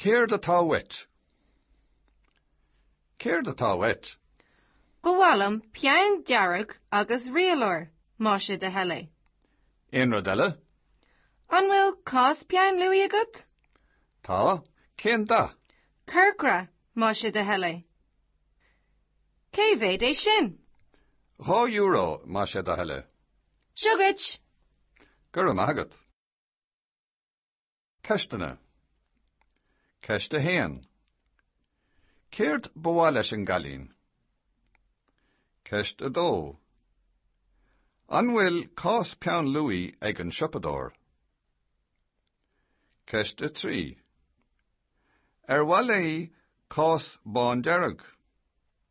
Céard atá uait? Céard atá uait? Ba mhaith liom peann dearg agus rialóir, má sé de thoil é. Aon rud eile? An bhfuil cás peann luaidhe agat? Tá, cén dath? Corcra, má sé de thoil é. Cé mhéad é sin? Dhá euro, má sé de thoil é. Seo duit! Go raibh maith agat. Ceisteanna. Ceist 1. Céard ba mhaith leis an gcailín? Ceist 2. An bhfuil cás peann luaidhe ag an siopadóir? Ceist 3. Ar mhaith léi cás bándearg?